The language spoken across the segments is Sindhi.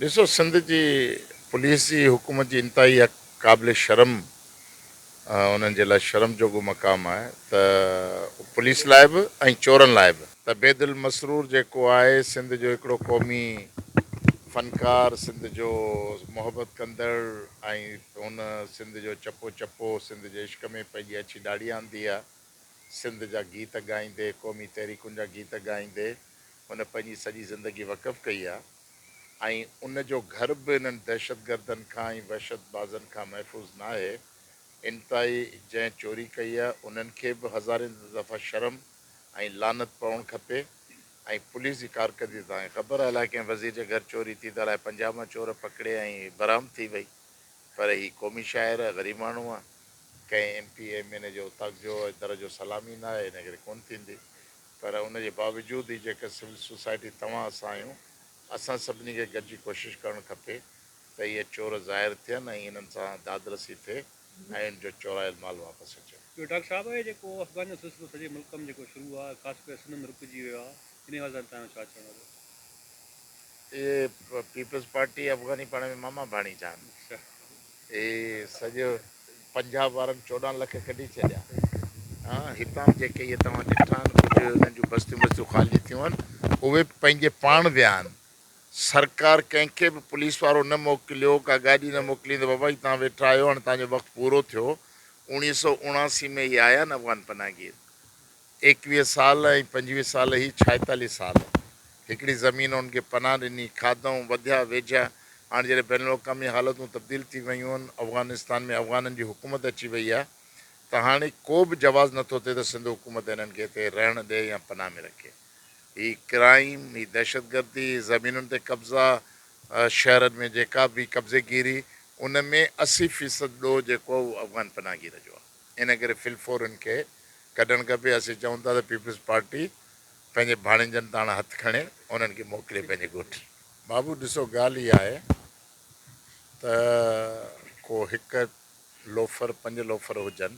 ڏسو سنڌ جي پوليس جي حڪومت جي انتهائي حق قابل شرم انهن جي لاء شرم جوڳو مقام آهي ته پوليس لاء به ۽ چورن لاء به. ته بيد المسرور جيڪو آهي سنڌ جو هڪڙو قومي فنڪار سنڌ جو محبت ڪندڙ ۽ هن سنڌ جو چپو چپو سنڌ جي عشق ۾ پنهنجي اڇي ڏاڙهي آندي آهي سنڌ جا گيت ڳائيندي قومي تحريڪن جا گيت ڳائيندي هن پنهنجي سڄي زندگي وقف ڪئي آهي. ۽ ان جو گهر به انهن دهشتگردن کان ۽ وحشت بازن کان محفوظ ناهي. انتهائي جنهن چوري ڪئي آهي انهن کي به هزارين دفعا شرم ۽ لعنت پوڻ کپي ۽ پوليس جي ڪارڪردگي تان خبر آهي لاء ڪنهن وزير جي گهر چوري ٿي ته الاء پنجاب مان چور پڪڙي ۽ برآمد ٿي وئي پر هي قومي شاعر آهي غريب ماڻهو آهي ڪنهن M P M N A جي اوطاق جو در جو سلام ئي ناهي انڪري ڪونه ٿيندي پر ان جي باوجود هي جيڪر سول سوسائٽي توهان اسان آهيون اسان سڀني کي گڏجي ڪوشش ڪرڻ کپي ته اهي چور ظاهر ٿين ۽ انهن سان دادرسي ٿئي ۽ ان جو چورايل مال واپس اچي. ٻيو ڊاڪٽر صاحب اهي جيڪو افغان جو سلسلو سڄي ملڪ م جيڪو شروع آ خاص ڪري سنڌ م رڪجي ويو آ انهي حوالي سان توهان جو ڇا چوڻ آ. اهي پيپلز پارٽي افغاني پاڻ ۾ ماما ڀاڻيجا آهن. اي سڄو پنجاب وارن چوڏهن لک ڪڍي ڇڏيا ها هتان جيڪي اهي توهان ڏٺا آهن ڪجهه انهن جون بستيون بستيون خالي ٿيون آهن اهي به پنهنجي پاڻ ويا آهن سرڪار ڪنهن کي به پوليس وارو نه موڪليو ڪا گاڏي نه موڪلي ته بابا جي توهان ويٺا آهيو هاڻي توهان جو وقت پورو ٿيو اوڻيهه سؤ اڻاسي ۾ اهي آيا آهن افغان پناهگير ايڪويهه سال ۽ پنجويهه سال هي ڇائيتاليهه سال هڪڙي زمين هن کي پناهه ڏني، کاڌئون، وڌيا ويجهيا، هاڻ جڏهن بين الاقوامي حالتون تبديل ٿي ويون آهن، افغانستان ۾ افغانن جي حڪومت اچي وئي آهي ته هاڻي ڪوبه جواز نٿو ٿئي ته سنڌ حڪومت هنن کي هتي رهڻ ڏئي يا پناهه ۾ رکي. هي ڪرائيم، هي دهشتگردي، هي زمينن تي قبضا، شهرن ۾ جيڪا به قبضيگيري، ان ۾ اسي فيصد ڏوهه جيڪو آهي اهو افغان پناهگير جو آهي. ان ڪري في الفور ان کي ڪڍڻ کپي، اسين چئون ٿا ته پيپلز پارٽي پنهنجي ڀاڻيجن تان هٿ کڻي انهن کي موڪلي پنهنجي ڳوٺ. بابو ڏسو ڳالهه اها آهي ته ڪو هڪ لوفر پنج لوفر هجن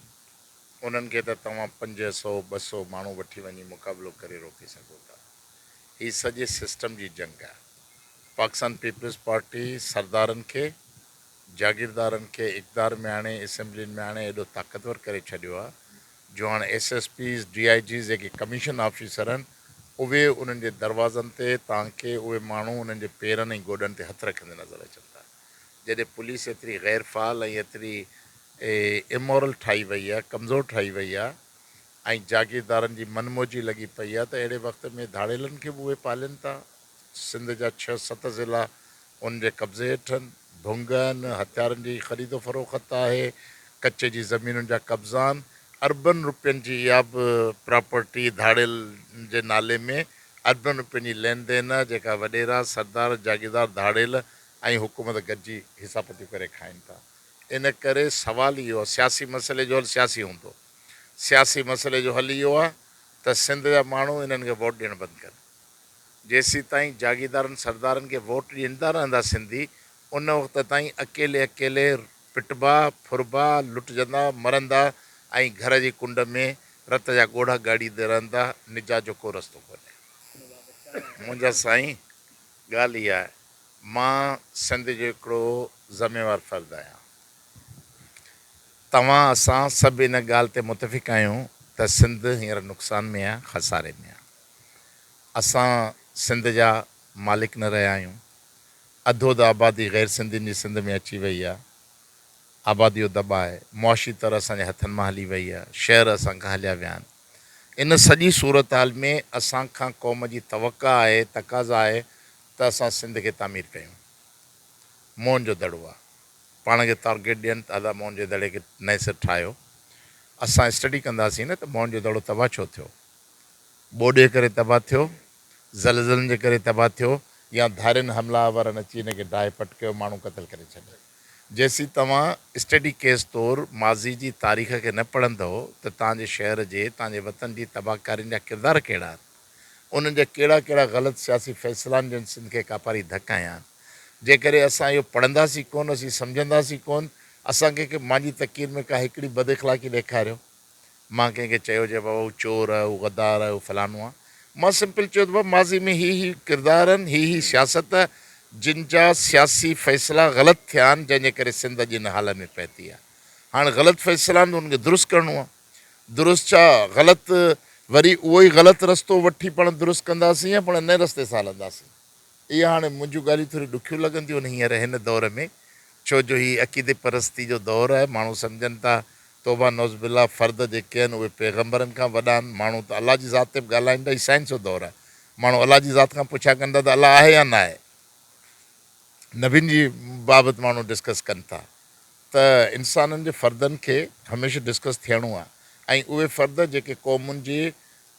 انهن کي ته توهان پنج سئو ٻه سئو ماڻهو وٺي وڃي مقابلو ڪري روڪي سگهو ٿا هي سڄي سسٽم جي جنگ آهي پاڪستان پيپلز پارٽي سردارن کي جاگيردارن کي اقتدار ۾ آڻي اسيمبلين ۾ آڻي ايڏو طاقتور ڪري ڇڏيو آ جو هاڻ S S Ps D I Gs جيڪي ڪميشن آفيسر آهن اهي انهن جي دروازن تي تانڪي اهي ماڻهو انهن جي پيرن ۽ گوڏن تي هٿ رکندي نظر اچن ٿا جڏهن پوليس ايتري غير فعال ۽ ايتري امورل ٺاهي وئي آ ڪمزور ٺاهي وئي آ ۽ جاگيردارن جي من موجي لڳي پئي آ ته اهڙي وقت ۾ ڌاڙيلن کي به اهي پالين ٿا. سنڌ جا ڇهه ست ضلعا ان جي قبضي هيٺ آهن، ڀنگ آهن، هٿيارن جي خريد و فروخت آهي، ڪچي جي زمينن جا قبضا آهن، اربن روپين جي اها به پراپرٽي ڌاڙيل جي نالي ۾ اربن روپين جي لين دين آهي جيڪا وڏيرا، سردار، جاگيردار، ڌاڙيل ۽ حڪومت گڏجي حصا پتيون ڪري کائين ٿا. ان ڪري سوال اهو آهي سياسي مسئلي جو حل سياسي هوندو، سياسي مسئلي جو حل اهو آهي ته سنڌ جا ماڻهو انهن کي ووٽ ڏيڻ بند ڪن. جيسيتائين جاگيردارن سردارن کي ووٽ ڏيندا رهندا سنڌي ان وقت تائين اڪيلي اڪيلي پٽبا، ڦربا، لٽجندا، مرندا ۽ گهر جي ڪنڊ ۾ رت جا ڳوڙها ڳاڙيندي رهندا، نجات جو ڪو رستو ڪونهي. منهنجا سائين ڳالهه اها آهي مان سنڌ جو هڪڙو ذميوار فرد آهيان توهان اسان سڀ ان ڳالهه تي متفق آهيون ته سنڌ هينئر نقصان ۾ آهي خساري ۾ آهي. اسان سنڌ جا مالڪ نه رهيا آهيون. اڌ اڌ آبادي غير سنڌين جي سنڌ ۾ اچي وئي آهي. آباديو دٻائي، معاشي طرح اسان جي هٿن مان هلي وئي آهي. شهر اسان کان هليا ويا آهن. ان سڄي صورتحال ۾ اسان کان قوم جي توقع آهي، تقاضا آهي ته اسان سنڌ کي تعمير ڪيون. موهن جو دڙو آهي. پاڻ کي تارگيٽ ڏين ته ادا موهن جي دڙي کي نئين سر ٺاهيو. اسان اسٽڊي ڪنداسين نه ته موهن جو دڙو تباهه ڇو ٿيو. ٻوڏي ڪري تباهه ٿيو، زلزلن جي ڪري تباهه ٿيو يا ڌارين حمله آورن اچي ان کي ڊاهي پٽ ڪيو ماڻهو قتل ڪري ڇڏيا. جيسين توهان اسٽڊي ڪيس طور ماضي جي تاريخ کي نه پڙهندؤ ته توهان جي شهر جي توهان جي وطن جي تباهه ڪارين جا ڪردار ڪهڙا آهن انهن جا ڪهڙا ڪهڙا غلط سياسي فيصلا آهن جن سنڌ کي ڪاپاري ڌڪ هنيا آهن جيڪڏهن اسان اهو پڙهنداسين ڪون اسين سمجهنداسين ڪون اسان کي ڪي مانجي تقرير ۾ ڪا هڪڙي بد اخلاقي ڏيکاريو مان ڪنهن کي چيو هجي بابا هو چور آهي، هو غدار آهي، هو فلانو آهي، مان سمپل چيو ته بابا ماضي ۾ هي هي ڪردار آهن، هي هي سياست آهي، جن جا سياسي فيصلا غلط ٿيا آهن، جنهن جي ڪري سنڌ اڄ هن حال ۾ پهتي آهي. هاڻ غلط فيصلا آهن ته انهن کي درست ڪرڻو آهي. درست ڇا غلط وري اهو ئي غلط رستو وٺي پاڻ درست ڪنداسين يا پاڻ نئين رستي سان هلنداسين. اهي هاڻي منهنجون ڳالهيون ٿوريون ڏکيون لڳن ٿيون ان هينئر هن دور ۾ ڇو جو هي عقيدي پرستي جو دور آهي ماڻهو سمجهن ٿا توبه نعوذ بالله فرد جيڪي آهن اهي پيغمبرن کان وڏا آهن ماڻهو ته الله جي ذات تي به ڳالهائين ٿا هي سائنس جو دور آهي ماڻهو الله جي ذات کان پڇا ڪن ٿا ته الله آهي يا ناهي نبين جي بابت ماڻهو ڊسڪس ڪن ٿا ته انسانن جي فردن کي هميشه ڊسڪس ٿيڻو آهي ۽ اهي فرد جيڪي قومن جي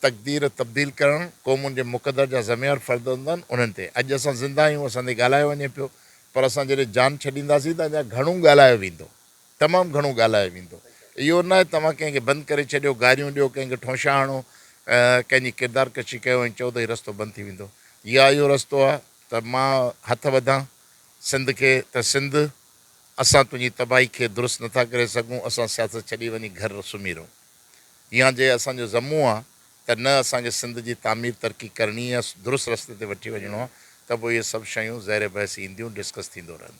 تقدير تبديل ڪرڻ قومن جي مقدر جا ذميوار فرد هوندا آهن انهن تي اڄ اسان زنده آهيون اسان تي ڳالهايو وڃي پيو پر اسان جڏهن جان ڇڏينداسين ته اڃا گهڻو ڳالهايو ويندو تمام گهڻو ڳالهايو ويندو اهو نه آهي توهان ڪنهن کي بند ڪري ڇڏيو گاريون ڏيو ڪنهن کي ٺونشا هڻو ڪنهن جي ڪردار ڪشي ڪيو ۽ چئو ته هي رستو بند ٿي ويندو يا اهو رستو آهي ته مان هٿ وڌان سنڌ کي ته سنڌ اسان تنهنجي تباهي کي درست نٿا ڪري سگهون اسان سياست ڇڏي وڃي گهر سمهي رهون. اها جي اسان جو ذمو آهي ته نه اسان کي سنڌ جي تعمير ترقي ڪرڻي آهي درست رستي تي وٺي وڃڻو آهي ته پوء اهي سڀ شيون زير بحث اينديون ڊسڪس ٿيندو رهندو.